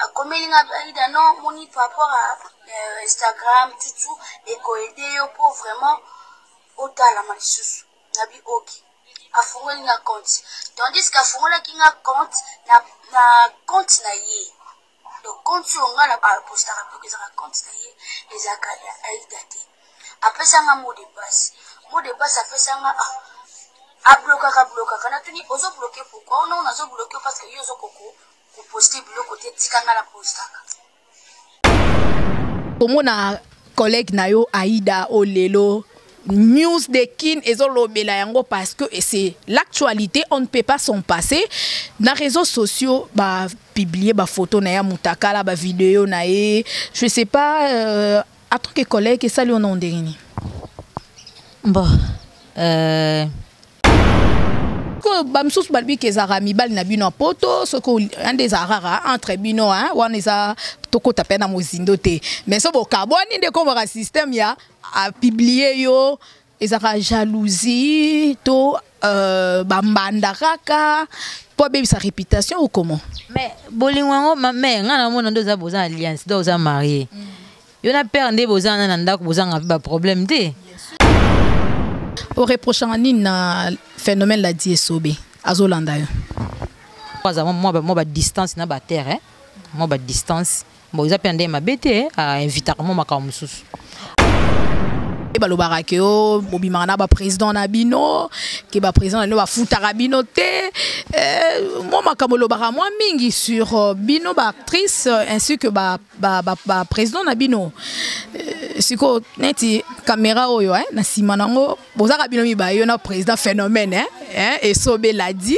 akomeli nga aida no moni par rapport à euh, instagram tutu ekoede yo mpo vraiment otalama lisusu na bioki afungoli nga compte tandis que afungolaki nga compte na, na compte na ye donc compte oyo nga apostaka mpe ezaka compte na ye ezalaka ya aida te apesanga mot de passe mot de passe apesanga ah, ablokaka blokaka natuni ozobloke pourkui ono nazobloke parce que yo ozokoko Ko poster biloko te tika nga na postaka. Komona collègue na yo Aïda o lelo news de kin ezolobela yango parce que c'est l'actualité on ne peut pas s'en passer na réseaux sociaux ba publier ba photo na ya mutakala ba vidéo na ye je sais pas euh, en tant que collègue esali ona ondenge nini bon euh... sikoyo bamisusu balobi ke ezalaka mibali na bino ya poto soki yande ezalaka kaka entre bino wana eza tokota mpe na mozindo te mais so bokabwani nde ekomaka système ya apiblie yo ezalaka jalousie to euh, bambanda kaka mpo abebisa réputation ou comment mais bolingo yango mame ngai namona nde oza boza alliance donc oza marie mm. yo na père nde boza wana na ndako bozanga mpe baproblème te oreprochanga nini na phénomène la di esobe azolanda yo aza mwa badistance na baterre mwa badistance bon eza mpe nde mabe te ainvitaka mwa makambo mosusu balobaka ke o bobimaka na baprésident na bino ke baprésident na bino bafutaka bino te eh, mwa makambo olobaka mwa mingi sur euh, bino baactrice euh, ainsi que ba ba, ba, ba président na bino euh, siko neti caméra oyo hein, na sima nango bozaka bino mibaye yo na président phénomène hein, hein, esobe l'a dit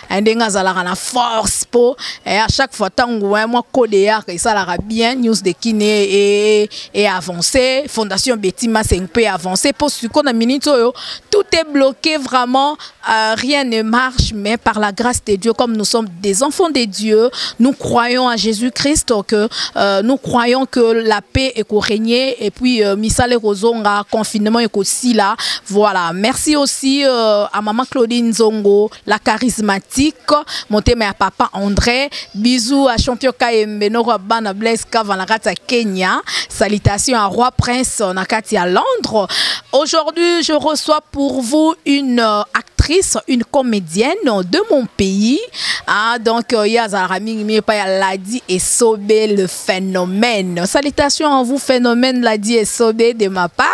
eh, ndenge azalaka na force mpo eh, à chaque fois ntango eh, mwa code yaka esalaka bien news de kine e, e avance fondation beti maseng mpe avance mpo siko na minute oyo tout est bloqué vraiment euh, rien ne marche mais par la grâce de dieu comme nous sommes des enfants de dieu nous croyons à jésus christ que euh, nous croyons que la paix ekorégner et puis euh, misala ekozonga confinement ekosila voilà merci aussi euh, à maman claudine zongo la charismatique motema ya papa andré bisou à champion kayembe noko ya bana blaise cava na kati ya kenya salutation à roi prince na kati ya londres aujourd'hui je reçois pour vous une euh, actrice une comédienne de mon pays ah, donc euh, ya azalaka mingi mingi epai ya ladi esobe le phénomène salutation à vous phénomène ladi esobe de ma part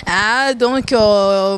ah, donc euh,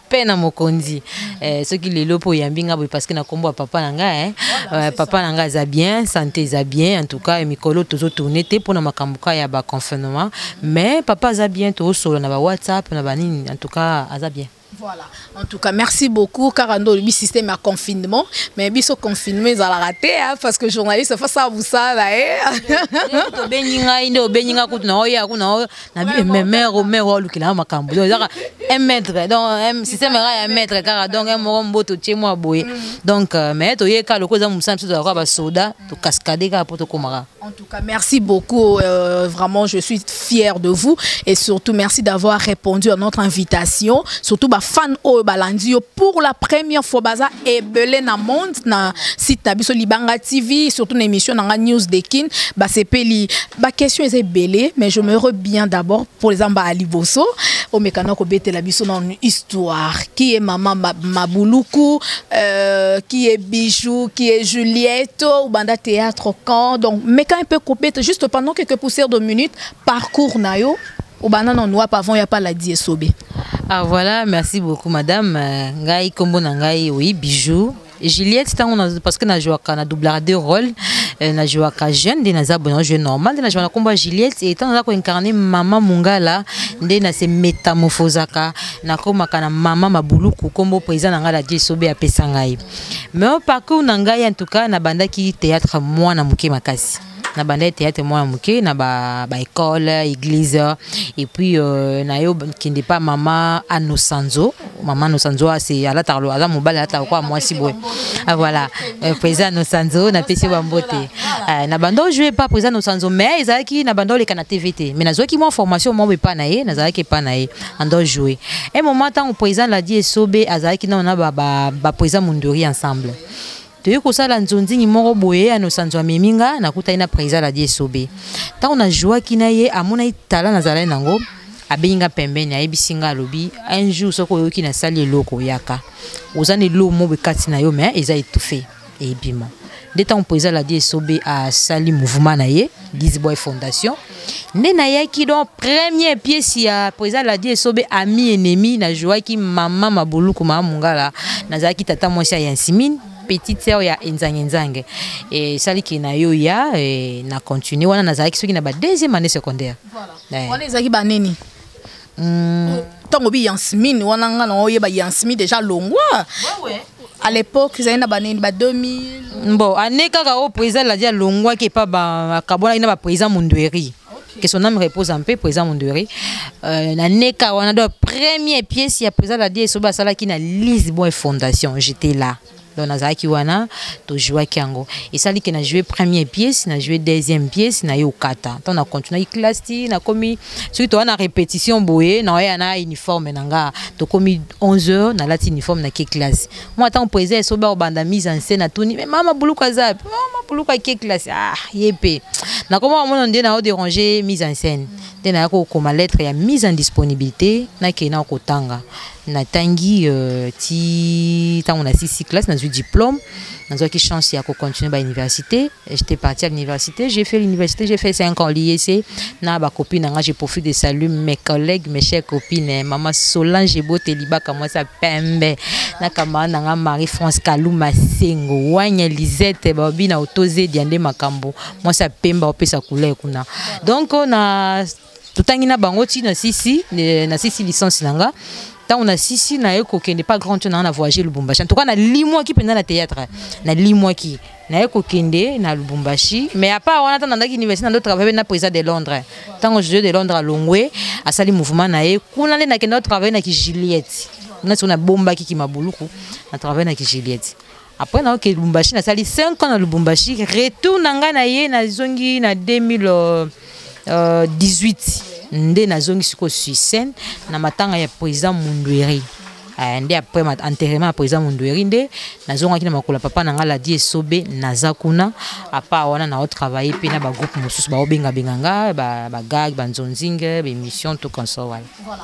paix na mokonzi eh, soki lelo mpo oyambi nga boye parceke na nkombo ya papa na nga eh. eh, papa na nga aza bien sante eza bien en tout cas eh, mikolo tozotourne te mpo na makambo ka ya baconfinement mais papa aza bien toosolo na bawhatsapp na banini en tout cas aza bien Voilà. En tout cas, merci beaucoup. Car on a système à confinement. Mais biso confinement, ils ont raté. Hein, parce que journaliste, face à vous, ça, là. Hein. nabi mère o mère olukela makambo donc ezaka un mètre donc un système era ya mètre kaka donc un moko mboto tie mwa boye mm. donc euh, mais toyeka lokola eza mosala biso tozalaka basoda tokaskade kaka mpo tokomaka En tout cas, merci beaucoup. Euh, vraiment, je suis fière de vous. Et surtout, merci d'avoir répondu à notre invitation. Surtout, bah, fan au balandio pour la première fois baza ebele na monde na site na biso libanga tv surtout na émission nanga news de kin basepeli baquestion eza ebele mais je me re bien d'abord mpo eza mbaa liboso omekana kobetela biso na histoire qui est mama mabuluku euh, qui est bijou qui est juliette obanda théâtre quand donc meka mpe kobeta juste pendant quelques poussières de minutes parcours na yo obanda nanu wapi avant ya paladi esobe ah voilà merci beaucoup madame euh, ngai kombo na ngai oui bijou Juliette tango na parce que na jouaka na doublaka deux rôles euh, na jouaka jeune nde naza bona jeu normal nde na jouaka na kombo ya Juliette et tango naza ko incarner maman mungala nde na se métamorphosaka na komaka na maman mabuluku kombo président na ngai la Dieu sobe apesa ngai mais au parcours na ngai en tout cas na bandaki théâtre mwana moke makasi na bandaki théâtre mwana moke na baécole église et puis euh, na yo kende pa mama anosanzo mama anosanzo ase alataka aza mobali alataka kwa mwasi boye ah, voilà euh, président anosanzo napesi yo bambote euh, na banda ojoue pa président anosanzo mais ezalaki na banda oleka na tv te mais nazwaki mwa formation mwa epa na ye nazalaki epa na ye anda ojoue un moment ntango président ladi esobe azalaki nano na baprésident mondori ensemble toyei kosala nzonzingi moko boye ya nosanzo amemi nga nakutaki na président ladi esobe ntango najuaki na ye amonaki tala nazalai nango abengi nga pembeni ayebisi nga alobi un jour soki oyoki nasali eloko yaka oza na eloo mobo ekati na yo me eza etufe ebima nde ntango président ladi esobe asali mouvement na ye dizboy fondation nde nayaki donc premier pièce ya po eza ladi esobe ami ennemi najoaki mama mabuluku mama mongala nazalaki tata mwasi ya yansimine petite sœur ya enzange nzange esaliki na yo ya na continue wana nazalaki soki na ba deuxième année secondaire wana ezalaki banini Hmm. ntango bi yansmine wana nga na oyeba yansmi déjà longwa à l'époque ezali na banini ba 2000 bon ane kaka oyo président eladi alongwaki epa akabwanaki na baprésident mundueri que son âme repose en paix président Mondori euh, na neka wana do première pièce ya président Ladi esoba asalaki na Lisbonne Fondation j'étais là donc nazalaki wana tojouaki yango esali ke na joue première pièce na joue deuxième pièce na ye okata ntango na continuaki classe ti nakomi soki toya na répétition boye naoya na uniforme na nga tokomi 11 heures nalati uniforme na ke classe mwa ntango mpo eza esobe akobanda mise en scène atuni me mama buluku aza pe mama buluku ake classe ah ye mpe nakoma omona nde nao déranger mise en scène nde nayaki kokoma lettre ya mise en disponibilité nakei na kotanga natangi euh, ti ntango na sisi classe nazwi diplôme nazwaki chance ya kocontinue bauniversité j'étais parti à l'université j'ai fait l'université j'ai fait 5 ans lycée na bacopine na nga je profite de salut mes collègues mes chers copines eh, mama solange eboteli baka mwasi ya pembe na kamara na nga marie france kaluma sengo wanya lisette babi na otozedi ya nde makambo mwasi ya pembe opesa couleur kuna donc na totangi na bango ti na sisi na sisi licence na nga ntango nasisi naye kokende pas grand to nanga na voyage lubumbashi en tout cas nalimwaki mpenza na théâtre nalimwaki naye kokende na lubumbashi mais apart wana ntango nandaki université nando travaille na président de londres ntango josue de londres alongwe asali mouvement na ye kuna nde nakenda travaille na ki juliette kuna siko nabombaki kimabuluku na travaille na ki juliette Après na oke Lubumbashi na sali 5 ans na Lubumbashi, retour na nga na ye na zongi na 2018 euh, nde na zongi siko sur scène na matanga ya président Mundueri. Euh, nde après enterrement ya président Mundueri nde nazongaki na makolo papa na nga Ladi Esobe naza kuna apa wana na travailler pe na ba groupe mosusu ba obenga benga nga ba ba gag ba nzonzinge ba émission tout comme ça voilà. voilà.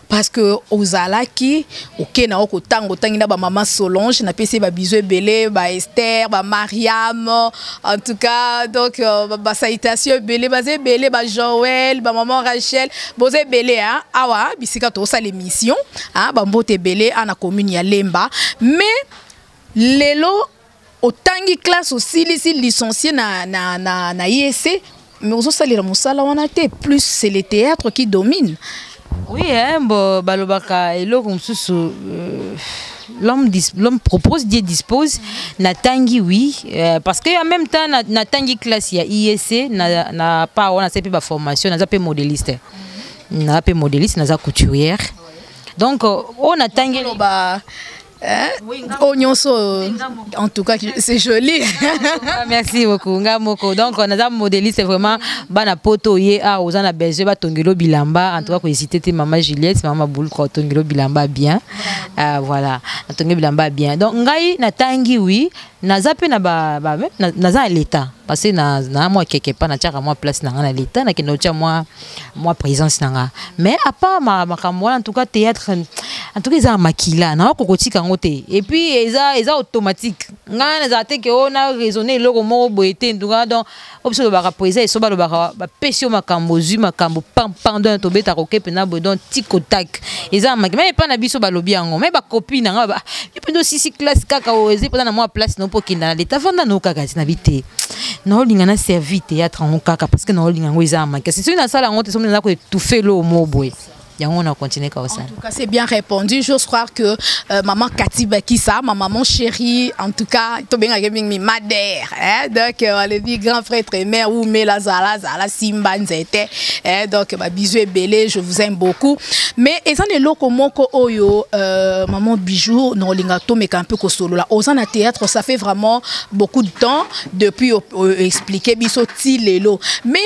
parce que ozalaki oke na oko tango tangi na ba maman Solange na pesi ba bisous ebele ba Esther ba Mariam en tout cas donc euh, ba, ba salutations ebele ba ebele ba Joël ba maman Rachel boze ebele hein awa bisika to sala émission hein ba mbote ebele ana commune ya Lemba mais lelo otangi classe osilisi licencie na, na, na, na IEC mais ozosalela mosala wana te plus c'est le théâtre qui domine oui hein, bo balobaka eloko mosusu euh, l'homme l'homme propose Dieu dispose natangi oui euh, parce que en même temps natangi classe ya IEC na, na pa wana se mpe baformation naza mpe modéliste naza mpe modéliste naza couturière donc oyo natangi loba Hein? Oui, Oignon so, en tout cas, c'est joli. Ah, merci beaucoup. Ngamoko. Donc, on a un modéliste vraiment. Bana poto ye a ah, aux ana besoin ba tongelo bilamba. En tout cas, ko hésiter te maman Juliette, maman boule ko tongelo bilamba bien. Euh, voilà. Tongelo bilamba bien. Donc, ngai na tangi oui, naza mpe na ba, ba, na, naza na leta parce que na, na mwa keke pa natiaka mwa place na ngai na leta nakende kotya mwa, mwa présence na ngai mais apart makambo wana en tout cas théâtre en tout cas eza na makila nawa kokotika yango te et puis eza, eza automatique ngai nazala te ke o oh, na raisonne eloko moko boye te en tout cas donc oyo biso olobaka po eza esoba alobaka bapesi yo makambo ozwi makambo pampandon tobetaka okepe na boye don tikotak eza na maki mai epai na biso balobi yango mai bakopi na ngai yo mpenza osisi classe kaka oyo eza mpenza na mwa place no mpo okenda na leta vanda nao kaka ti na bi te naolinga na servi théâtre yango kaka parce que naolinga yango eza na maki kasi soki nasala yango te soki naza koetufe loo moo boye yango na continue ka kosala en tout cas c'est bien répondu j'ose croire que euh, maman Cathy Bakisa ma maman chérie en tout cas to benga ke mingi madère hein donc euh, le dit grand prêtre et mère ou mela zala zala simba nzete hein donc ba bisous ebele je vous aime beaucoup mais ezan eloko moko oyo euh, maman bijou no linga to meka un peu ko solo la ozan na théâtre ça fait vraiment beaucoup de temps depuis euh, expliquer biso ti lelo mais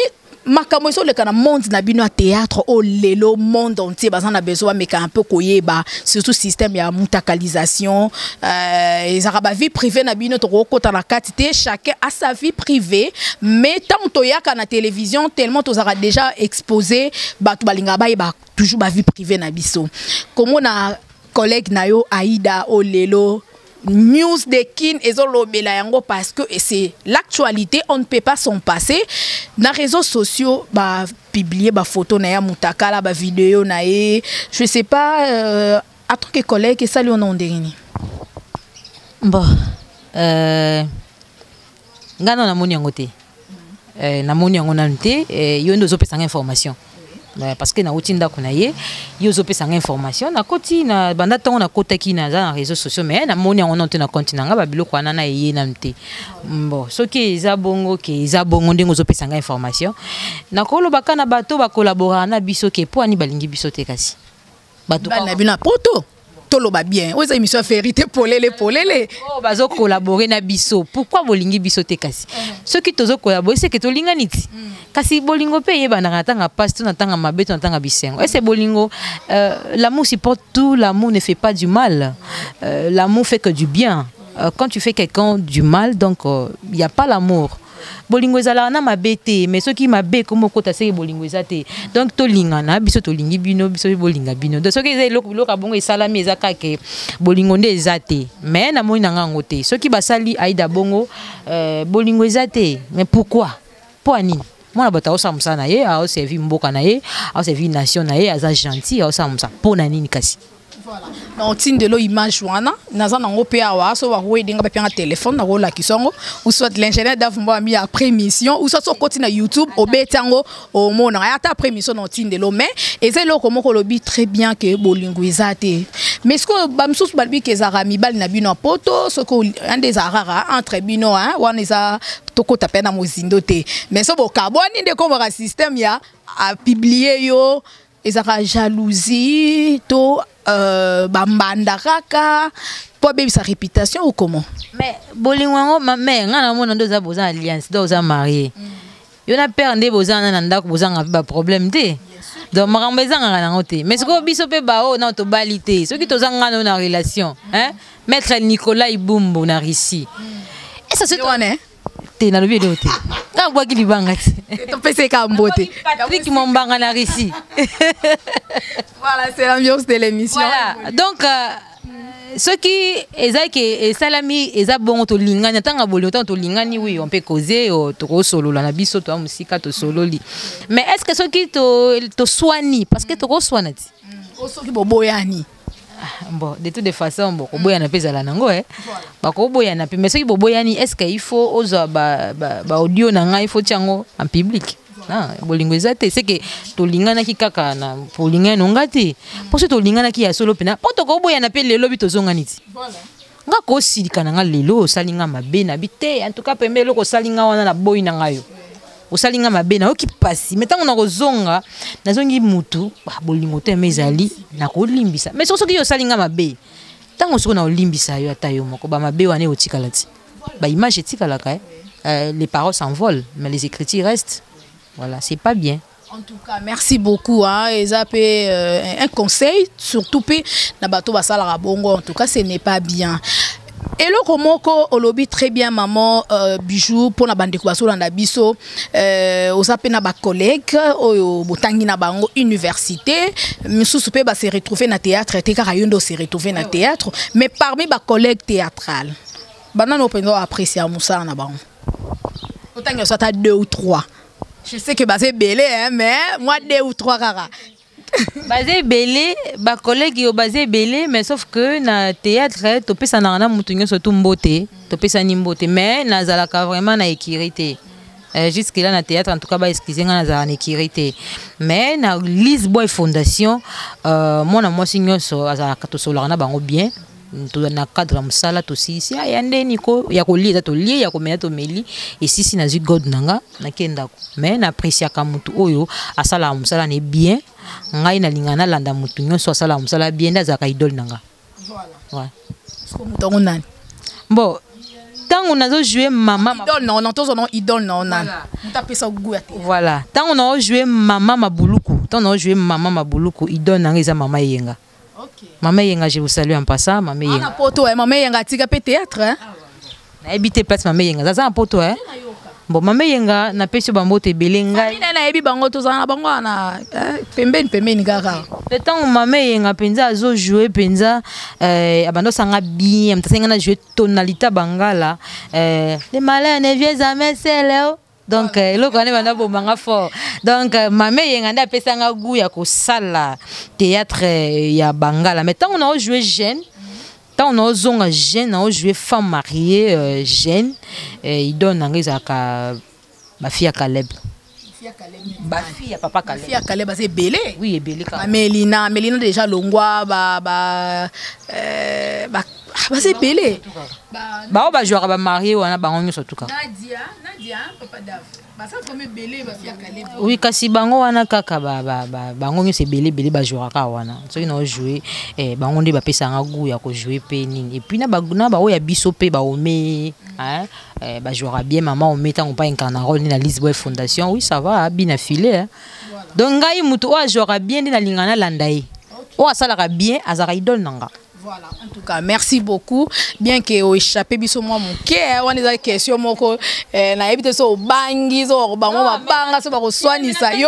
makambo ezoleka na monde na bino ya théâtre oyo lelo monde entier baza na besoin bameka un peu koyeba surtout système ya mutakalisation euh, ezalaka euh, bavie privée na bino tokokota na kati te chacun a sa vie privée mais ntango toyaka na télévision tellement tozalaka déjà exposé bato balingaka bayeba toujours bavie privée na biso komona collègue na yo aida oyo lelo news de kin ezolobela yango parce que c'est l'actualité on ne peut pas s'en passer na réseaux sociaux ba publier ba photo na ya mutakala ba vidéo na ye je sais pas euh, à truc et collègue esali ona ondenge nini bon euh... nga na namoni yango te eh, namoni yango nanu te eh, yo nde ozopesanga information eh, parce que nauti ndako na ye yo ozopesanga information nakoti na banda ntongo nakotaki naza na réseau sociaux mais namoni yango nanu te na compte na nga babiloko wana na eye nanu te bon soki eza bongo ke eza bongo ndenge ozopesanga information nakolobaka na bato bakolaboraka na biso ke mpo ani balingi biso te kasi bato bana bino ya poto toloba bien oyo eza émission ya verité polele polele oyo oh, bazokolabore na biso pourkui bolingi biso te kasi eh. soki tozokolabore seke tolingani ti hmm. kasi bolingo mpe eyebanaka na ntanga mpasi to na ntanga mabe to na ntanga bisengo ese bolingo euh, l'amour supporte tout l'amour ne fait pas du mal euh, l'amour fait que du bien euh, quand tu fais quelqu'un du mal donc il n'y a pas l'amour bolingo ezalaka na mabe te mais soki mabe ekomi okota seke bolingo eza te donc tolingana biso tolingi bino biso bolinga bino donc soki eza eloko biloko ya bongo esalami eza kaka bolingo nde eza te mais namoni na nga yango te soki basali aida bongo euh, bolingo eza te mais pourquoi mpo ya nini mwana bato aosala mosala na ye aoservi mboka na ye aoservi nation na ye aza gentil aosala mosala mpo na nini kasi na otindelo image wana naza nango mpe awa so bakoyede nga bapia nga telefone nakolakisa yango ou soit l'ingénieur davumba ami après mission ou soit sokoti na youtube obeti yango omonaka ya ata après mission na otindelo mais eza eloko moko olobi très bien ke bolingo eza te mais sikoyo bamosusu balobi ke ezalaka mibali na bino ya poto soki ande ezalaka kaka entre bino wana eza tokota mpe na mozindo te mais so bokabwani nde ekomaka système ya apublie yo ezaka jalousie to euh, bambanda kaka mpo abebisa réputation ou comment mais bolingo yango mame ngai namona nde oza boza alliance donc oza marie mm. yo na père nde boza na na ndako bozanga mpe baproblème te donc makambo ezangaka nango te mais sikoyo biso mpe baoyo nao tobali te soki toza ngai nao na relation mm. maître nicolas ibumbu na russie mm. esa soki te nalobi eloko te ntango bwaki libanga te topesai kaka mbote patrik mombanga na russie voilà c'est l'ambiance de l'émission voilà donc euh, soki eza ke esalami eza bongo tolingani ntango ya bolingo ntango tolingani wi mpe koze tokosolola na biso toya mosika tosololi mais est ce que soki toswani parce que tokoswana ti mm. soki boboyani Ah, bon de toute façon bokoboyana mpe ezala nango e eh. bakoboyana mpe mais soki boboyani est ce que il faut ozwa baaudio na ngai faut tia yango en public ah, bolingo eza te seke tolinganaki kaka na olingani no ngai te mpo soki tolinganaki ya solo mpena mpo tokoboyana mpe lelo bi tozongani ti nga kosilika na nga lelo osali nga mabe na bi te en tout cas pembe eloko osali nga wana na boyi na nga yo osali nga mabe nayoki mpasi me ntango nakozonga nazongi mutu ah, bolingo te me ezali nakolimbisa me soki soki yo osali nga mabe ntango soki naolimbisa yo ata yo moko bamabe wana eotikala ti baimage etikalaka eh? euh, les paroles s'envolent mais les écritures restent voilà c'est pas bien En tout cas, merci beaucoup. Hein. Et ça, euh, un conseil, surtout, na bateau basalara bongo. En tout cas, ce n'est pas bien. eloko moko olobi très bien maman euh, bijou mpo na bandeko bazolanda biso euh, oza mpe na bacollègue oyo botangi na bango université mosusu mpe base retrouve na théâtre te kaka yo nde ose retrouve na théâtre mais parmi bacollègue théâtrale banani oyo mpenza oapprécia mosala na bango otangi oso ata deux ou trois Je sais que baza ebele hein, mais moi deux ou trois kaka. baza ebele bacollègue yo baza ebele mais sauf que na théâtre topesanaka na motu nyonso tu mbote topesani mbote mais nazalaka vraiment na ekiri te Euh, jusque là na théâtre en tout cas ba excuse nga nazala na ekiri te mais na lisboy fondation euh, mwana mwasi nyonso azalaka tosololaka na bango bien na cadre ya mosala tosilisi ah, ya ndeni ko ya kolia eza tolia ya komela tomeli esisi nazwi god na nga nake ndako mai na apresiaka motu oyo asalaka mosala ne bien ngai nalinga nalanda motu nyonso asalaka mosala bien nde azalaka idole na nga bon ntango nazojoue mama voilà ntango naojoue mama mabuluku ntango naojoue mama mabuluku idole na nga eza mama eyenga Mama Yenga, je vous salue en passant. Mama Yenga. Ah, poto, eh, Mama Yenga, tika pe théâtre. Hein? Na habité place Mama Yenga. Zaza en poto, hein? Bon, Mama Yenga, na pesi bango te belé ngai. Mina na yebi bango to zana bango na eh, pembeni pembeni kaka. Le temps Mama Yenga penza azo jouer penza euh abando sanga bien, mtasenga na jouer tonalita bangala. Euh les malins ne viennent jamais seuls. Oh. donc euh, eloko wana ebanda boma nga fort donc euh, mama eyenga nde apesa nga gout ya kosala théâtre euh, ya bangala mais ntango nao joue jeune ntango naozonga jeune nao joue femme mariée euh, jeune euh, idole na nga ezalaka bafi ya caleb bafi ya papa caleb ya caleb aza ebele oui ebele kaka melina melina déjà longwa ba, ba, euh, ba Ah, baza ebele baoyo bajwaka bamarie wana bango nyonso tukaka oui kasi bango wana kaka bango nyonso ebele ebele bajouaka kaka wana soki nao joue eh, bango nde bapesanga gout ya kojoue mpe nini epuis na baoyo ya biso mpe baome eh, bajouaka bien mama ome ntango mpa incarnarole nde na lisboy fondation oui ça va abina filet donc ngai moto oyo ajouaka bien nde nalinga nalanda ye oyo asalaka bien azalaka idole na nga Voilà, en tout cas, merci beaucoup. Bien que au échappé biso moi mon cœur, on est question moko eh, na yebite so bangi zo bango ba banga so ba ko swanisa yo.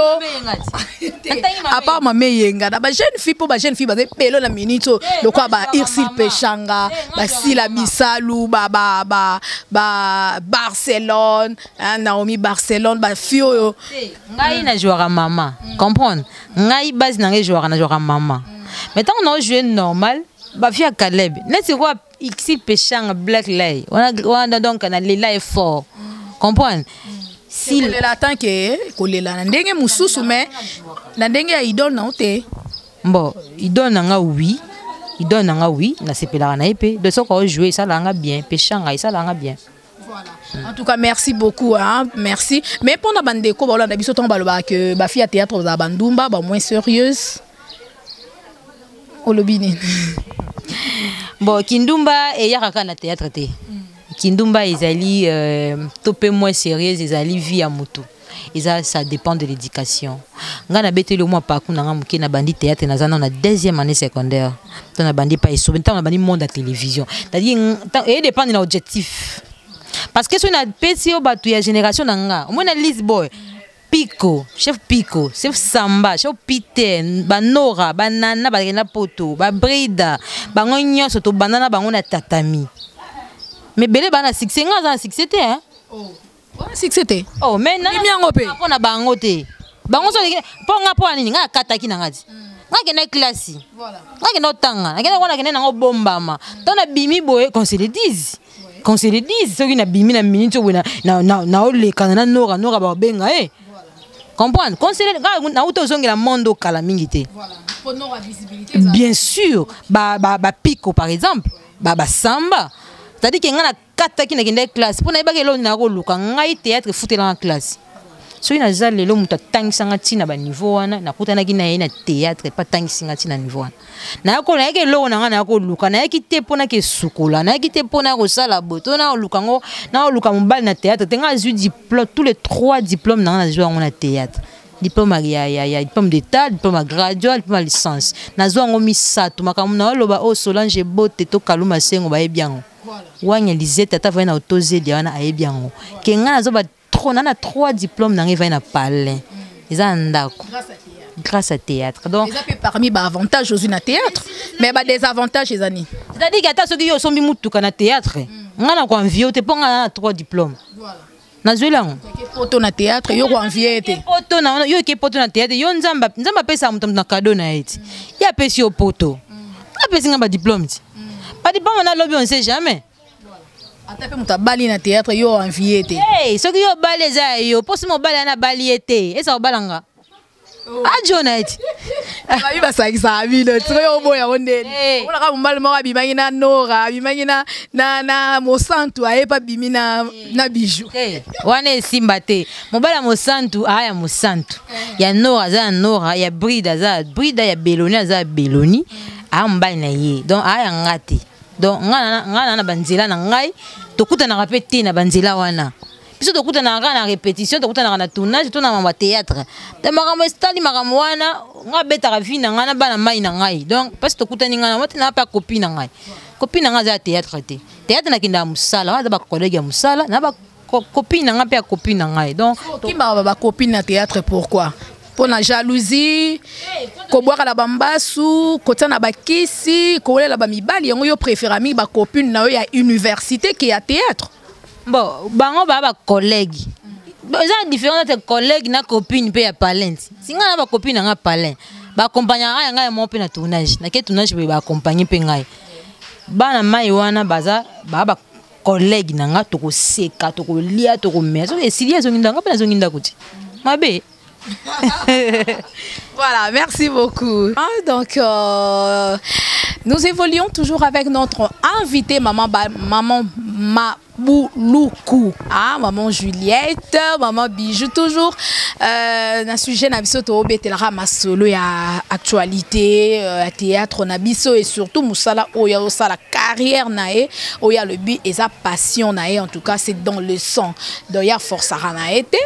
À part ma meyenga, na ba jeune fille pour ba jeune fille ba pelo na minute eh, le quoi ba Irsil Pechanga, eh, ba Sila Bisalu, ba ba ba ba Barcelone, hein, Naomi Barcelone, ba fio. Ngai na jouera maman. Hmm. Comprendre? ngai base na ngai jouaka na jouaka mama mais ntango nao joue normal bafi ya caleb neti kwa ixi peshanga black lay wana donc na lela ye fort comprendre kolela atan ke kolela na ndenge mosusu mais na ndenge ya idole nao te bon idole na nga oui idole na nga oui nasepelaka na ye mpe de soki aojoue esalaka nga bien peshanga esalaka nga bien en tout cas merci beaucoup hein? merci mais mpona bandeko baolanda biso ntango balobaka ke bafi ya théâtre bazala bandumba ba moins sérieuse olobi nini bon kindumba eyaka kaka na théâtre te kindumba ezali euh, to mpe moins sérieuse ezali vie ya motu eza ça dépend de l'éducation ngai nabeteli omwa parcours na ngai moke nabandi théâtre naza nao na deuxième année secondaire to nabandi epai esobe ntango nabandi monde ya télévision c'est-à-dire edépendre na objectif parce que soki napesi yo bato ya génération na nga omoi na lise boy Pico, chef Pico, chef Samba, chef Peter, Banora, Banana, Bagena Poto, Babrida, Bango nyonso to banana bango na tatami. Mais bele bana succès nga za succès te hein. Oh. wana succès te oh mais na mimi yango pe pona bango te bango so po nga po nini nga kataki na ngati nakenda klasi nakenda otanga nakenda kona kende nango bombama to na bimi boye qu'on se le dise qu'on se le dise soki na bimi na minute oyo na na na olekana na nora nora ba benga eh comprendre qu'on se le na uto zongela monde kala mingi te bien sûr ba ba ba pico par exemple ba ba samba c'est-à-dire que nga na nakataki nakendaki classe mpo nayebaki eloko nakoluka ngai théâtre efutelanga classe soki naza lelo moto atangisa nga ntina baniveau wana nakutanaki na ye na théâtre epa atangisi nga ntina niveau wana nayako nayaki eloko na nga naya koluka nayaki te mpo nake esukola nayaki te mpo naya kosala boye to nakoluka yango nakoluka mobali na théâtre te ngai azwi diplôme tous les trois diplôme na nga nazwi yango na théâtre diplôme ya, ya, ya diplôme d'état diplôme ya graduat diplôme ya licence nazwa yango misato makambo na oloba oyo oh, solange ebote to kaluma sengo bayebi yango wanya lizete ata avandi na otozedia wana ayebi yango ke ngai nazoba trop na na trois diplôme na ngai evandi na palin eza na ndako grâce à théâtre donc eza mpe parmi baavantage ozwi na théâtre mais badesavantage eza nini c'est-à-dire ata soki yo osombi motuka na théâtre ngai na koanvio te mpo ngai na na trois diplôme voilà. nazweli yango poto na théâtre yo koenvie te poto na yo eke poto na théâtre yo nzambe nzambe apesaka moto na kado na ye ti ye apesi yo poto apesi ngai badiplome ti badiplome na lobi on sait jamais ata mpe moto abali na théâtre yo envie te soki yo obali eza ya yo mposi mobali ana abali ye te eza kobala nga ajona ete babi basakisaka bino soki oboya yango ndeni eh. olaka mobali moko abimaki na nora abimaki na mosantu ayepa abimi na eh. bijou eh, wana esimba te mobali ya mosantu aa ya mosantu ya nora aza ya nora ya bride aza ya brida ya beloni aza ya beloni aa mobali na ye donc aa ya nga te donc ngai na banzela na ngai tokutanaka mpe te na banzela wana biso tokutanaka kaka na répétition tokutanaka na tournage to na mama théâtre to makambo esitali makambo wana nga abetaka vi na ngai na bana mai na ngai donc mpasi tokutani ngai nango tena mpe akopi na ngai kopi na ngai aza ya théâtre te théâtre nakendaka mosala wana aza bacollègue ya mosala na bakopi na ngai mpe akopi na ngai donc okimaka bakopi na théâtre pourquoi mpo na jalousie kobwaka na bambasu kotia na bakisi kowelela bamibali yango yo préféra mingi bacopine na yo ya université ke ya théâtre bon bango baa bacollègue eza na différence entre collègue na copine mpe ya palin si ngai na bacopine na ngai palin baakompagnaka ngai ya ngai ya moko mpe na tournage nake tournage boye baakompagne mpe ngai bana mai wana baza baa bacollègue na ngai tokoseka tokolia tokomela soki esili ezongi ndako ngai mpe nazongi ndako ti mabe voilà, merci beaucoup. Ah, donc, euh, nous évoluons toujours avec notre invité, maman, ba, maman ma Bouloukou. Ah, maman Juliette, maman Bijou, toujours. Euh, na sujet na biso to betelaka masolo ya actualité, euh, ya théâtre na biso et surtout musala oya osala carrière na e, oya le but et sa passion na e en tout cas c'est dans le sang. donc ya forçaka na ye te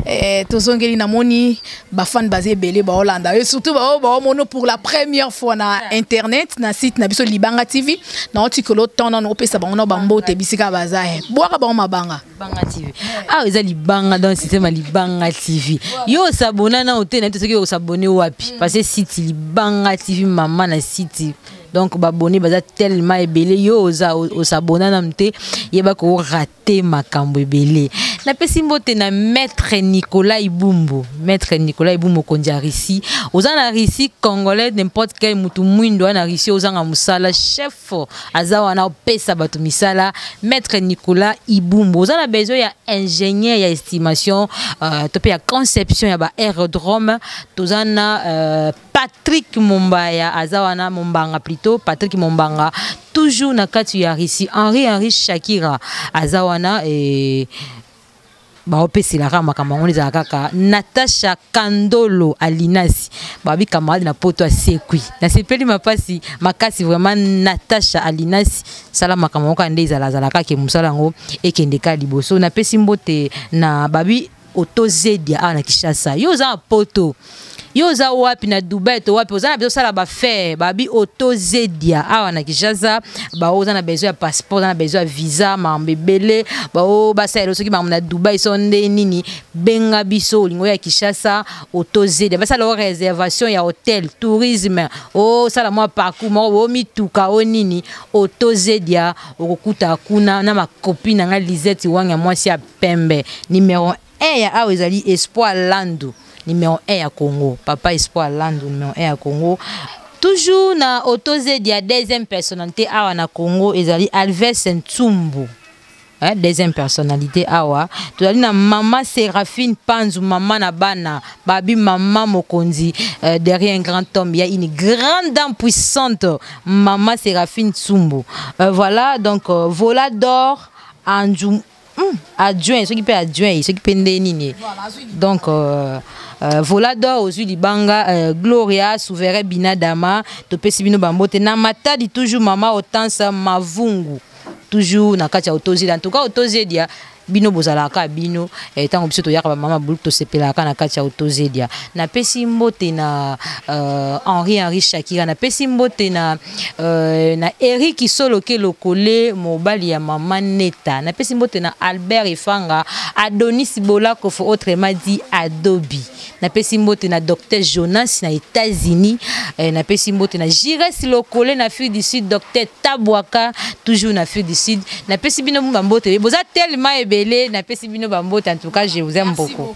eh, tozongeli namoni bafane baza ebele baolanda ye surtout bao baomono pour la première fois na internet na site na biso libanga tv naotikolo temps nano opesa bango na bambote bisika baza ye eh. bwaka bango mabanga libanga tv awa ah, eza libanga dans systeme ya libanga tv yo osabona nao te nayebi te soki osabone wapi mm. parce site libanga tv mama na site donc babone baza tellement ebele yo oza osabona nanu te yeba ko rate te makambo ebele napesi mbote na maître nicolas ibumbu maître nicolas ibumbu mokonzi ya russie oza na russie congolais n'importe quel motu mwindo wana russie ozanga mosala chef aza wana opesa bato misala maître nicolas ibumbu oza na besoin ya ingénieur ya estimation uh, to mpe ya conception ya ba aérodrome toza na uh, Patrick Mombaya aza wana Mombanga plutôt Patrick Mombanga toujours na kati ya Russie Henri Henri Shakira aza wana eh, baopesela kaka makambo yango ezala kaka natasha kandolo alinasi babi camarade na poto asekwi nasepeli mapasi makasi vraiment natasha alinasi sala makambo yango kaka nde ezalazala kaka mosala yango ekende ka liboso napesi mbote na babi oto zedia awa na kishasa yo oza na poto yo oza wapi na dubai to wapi oza na biso sala bafaire babi oto zedia awa na kishasa baoyo oza na besoin ya passeport oza na besoin ya visa makambo ebele baoyo basalela soki makambo na dubai so nde nini benga biso olingo ya kishasa oto zedia basala o réservation ya hotel tourisme osala mwa parcours moko bo mituka o nini oto zedia okokuta kuna na makopi na ngai lisette wanga mwasi ya pembe numero 1 ya awa ezali espoir landu numero 1 ya congo papa espoir landu numero 1 ya congo toujours na autozedi ya deuxième personnalité awa na congo ezali alves ntsumbu hein, deuxième personnalité awa tozali na mama séraphine panzu mama na bana babi mama mokonzi euh, derrière un grand homme ya une grande dame puissante mama séraphine tsumbu euh, voilà donc euh, vola d'or anzu Hum, adjoint soki mpe adjoint soki mpe nde nini donc euh, euh, volador ozwi libanga euh, gloria souverain binadama topesi bino bambote na matadi toujours mama otansa mavungu toujours na kati ya otozi en tout cas otozi edia bino bozalaka bino eh, ntango biso toyaka bamama buluku tosepelaka na kati ya otozedia napesi mbote na uh, henri henri shakira napesi mbote na Euh, na Eric Soloke Lokole mobali ya mama Neta na pesi mbote na Albert Efanga Adonis Bolakofo autrement dit Adobe na pesi mbote na Docteur Jonas na États-Unis euh, na pesi mbote na Jires Lokole na Afrique du Sud Docteur Tabwaka toujours na Afrique du Sud na pesi bino mbote boza tellement ebele na pesi bino mbote en tout cas je vous aime beaucoup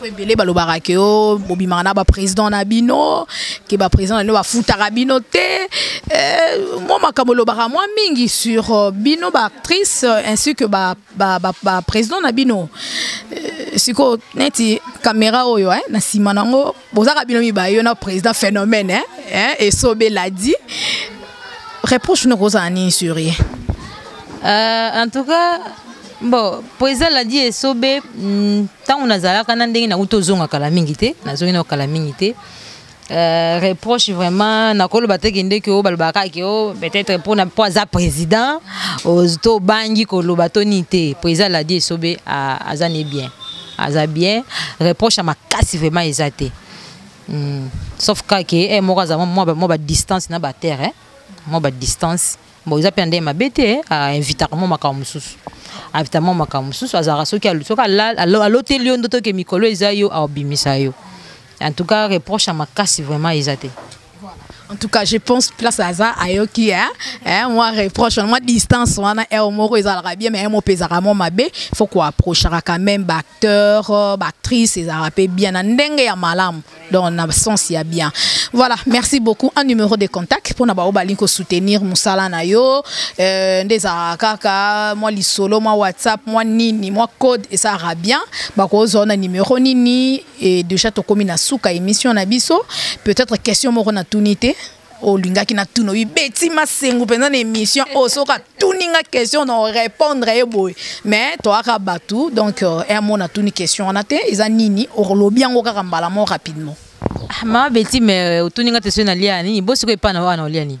po ebele balobaka ke o bobimaka na baprésident na bino ke baprésident na bino bafutaka bino te euh, mwa makambo olobaka mwa mingi sur euh, bino baactrice euh, ainsi que baprésident na bino sikoyo neti kamera oyo eh, na nsima na yango bozaka bino mibaye yo na président phénomène eh, eh, esobe ladi reproche nokozala nini sur ye en tout cas bon mpo ezaladi esobe ntango mm, nazalaka na ndenge nakuti ozonga kala mingi te nazongi nao kala mingi te Euh, reproche vraiment nakoloba te kende ke oyo balobaka ke o peut-être mpona mpo aza président to obangi koloba to nini te mpo eza ladi esobe aza ne bien aza bien reproche ya makasi vraiment eza te mm. sauf kaka ke eh, moko aza mwa badistance na baterre eh? mwa badistance bon eza mpe nde mabe te ainvitaka mwa makambo mosusu ainvitaka mwa makambo mosusu azalaka soki soki aloteli yo ndoto ke mikolo eza yo aobimisa yo en tout cas reproche ya makasi vraiment eza te en tout cas je pense place aza ayoki hein? hein? moi reproche moi distance wana eo moko ezalaka bien mais emo mpe ezalaka mwa mabe faut koapprochaka quand même baacteur euh, baactrice ezalaka mpe bien na ndenge ya malamu donc na sens ya bien voilà merci beaucoup un numéro de contact mpona baoyo balingi kosoutenir mosala na yo euh, nde ezalaka kaka mwa lisolo mwa whatsapp mwa nini mwa code esalaka bien bakozwa na numéro nini e déjà tokómi na suka émission na biso peut-être question moko natuni te olingaki na tuna oyi beti masengu mpenza na émission oyo oh, soki atuni nga question na orépondre ye boye mais toyaka bato donc euh, emo natuni question wana te eza nini olobi yango kaka mbala mo rapidement ah, mama beti mais euh, otuni nga te soki nalia nini bo sikoyo epai na wana olia nini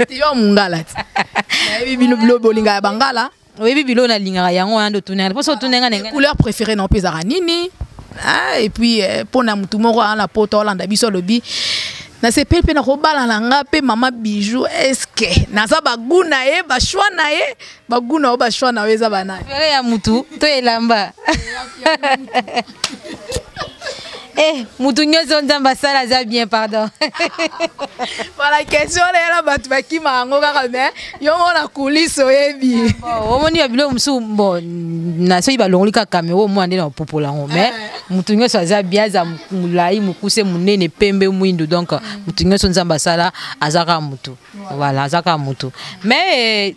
yo mongala te nayebi bino bilo bolingaka bangala oyebi bilo nalingaka yango wana nde otunaka mposo otunenga ndenge couleur préféré nao mpe ezalaka nini ah, et puis eh, mpo na motu moko aa na poto olanda biso alobi nasepeli mpe nakobala na nga mpe mama bijou eske naza bagu na ye bashoi na ye bagu na yo bashoi na yo eza banani ya motu to elamba Eh, mutu nyonso nzambe asala aza bien pardon voilà question na yala bato bakima yango kaka me yo moko na kulise oyebi ah, omoni ya biloko mosusu bo na soki balongoli kaka me oyo mwana nde na opopola yango me eh. motu nyonso aza bien aza molai mokuse monene pembe mwindu donc motu nyonso nzambe asala aza kaka motu voilà aza kaka motu mais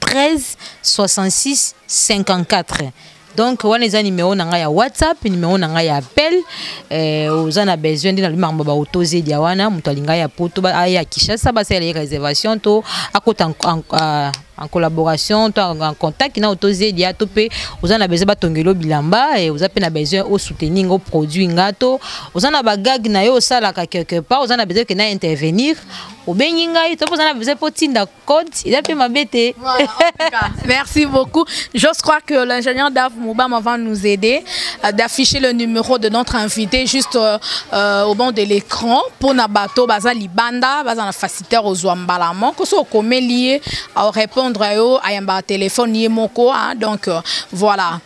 13 66 54 donc wana eza numero na ngai ya whatsapp numero na ngai ya appel eh, oza na besoin nde nalobi makambo baotozedia wana moto alingai ya poto aya ah, kinshasa basalela ye réservation to akota ah, en collaboration to en contact na otozedia to mpe oza na besoin batongelo bilamba eh, oza mpe na besoin osoutenir ngo produit nga to oza na bagage na yo osalaka quelque part oza na besoin ke na intervenir obengi ngai to mpe oza na besoin mpo otinda code eza mpe mabe te merci beaucoup je crois que l'ingénieur dav mobama va nous aider euh, d'afficher le numéro de notre invité juste euh, euh, au banc de l'écran mpo na bato baza libanda baza na facilitaire ozwa mbala moko so okomeli ye aorépondre yo ayambaka telefone ye moko donc euh, voilà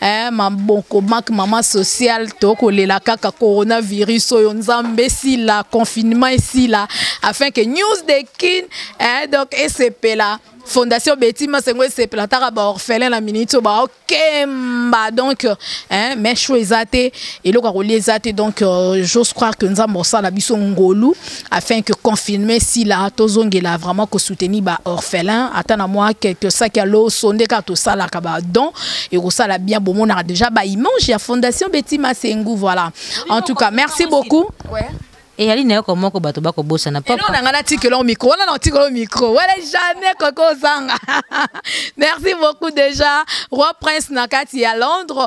eh, maboko mak mama social tokolela kaka coronavirus oyo nzambe esila confinement esila afin que news de kin eh, donc esepela fondation beti masengo esepela taka baorphelin na miniti oyo baokemba donc eh, mais cho eza te eloko ya kolia eza te donc euh, j'ose croire que nzambe osala biso ngolu afin que confirmer si la tozongela vraiment ko soutenir ba orphelins ata na moi quelque sac ya loso nde kaka tosalaka ba don ekosala bien bomonaka déjà ba image ya fondation Betty Masengu voilà en tout cas merci beaucoup ouais. eyali na yoko moko bato bakobosana papa na ngai natikela o micro wana na otikela o micro wana jamais kokozanga merci beaucoup déjà roi prince na kati ya londres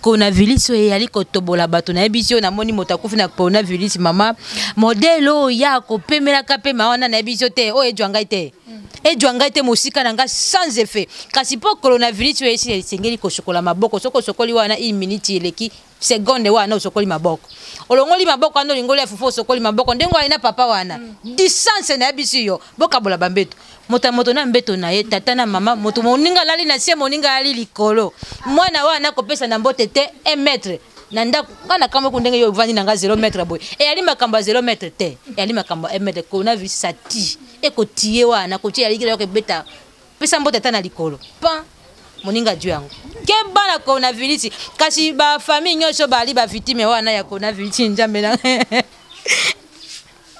coronavirus oyo eyali kotobola bato nayebi ti oyo namoni moto akufi na coronavirus mama modele oyo ya kopemelaka mpe ma wana nayebi ti te oyo ejwa ngai te ejwa ngai te mosika na ngai sans effet kasi mpo coronavirus oyo esi esengeli kosokola maboko soki osokoli wana une minute eleki seconde wana osokoli maboko olongoli maboko wana olingoli ya fufu osokoli maboko ndenge oyo na papa wana mm. distance nayebisi yo bokabola bambeto moto ya moto na mbeto na ye tata na mama moto moninga alali na se moninga alali likolo mwana wana akopesa na mbote te un mètre na ndako nga nakambo eko ndenge yo ovandi na nga zero mètre boye eyali makambo ya zero mètre te eyali makambo ya un mètre kona vi sati ekotiye wana kotiye yalikila yoko ebeta pesa mbote ata na likolo pan moninga juu yango keba na coronavirus kasi bafamille nyonso bali bavictime wana ya coronavirus njambe na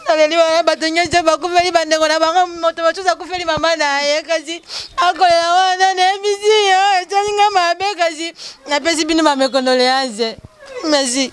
naleli wana bato nyonso bakufeli bandeko na bango moto mosusu akufeli mama na ye kasi akolela wana nayebisi yo etali ngai mabe kasi napesi bino bamekondoleanse merci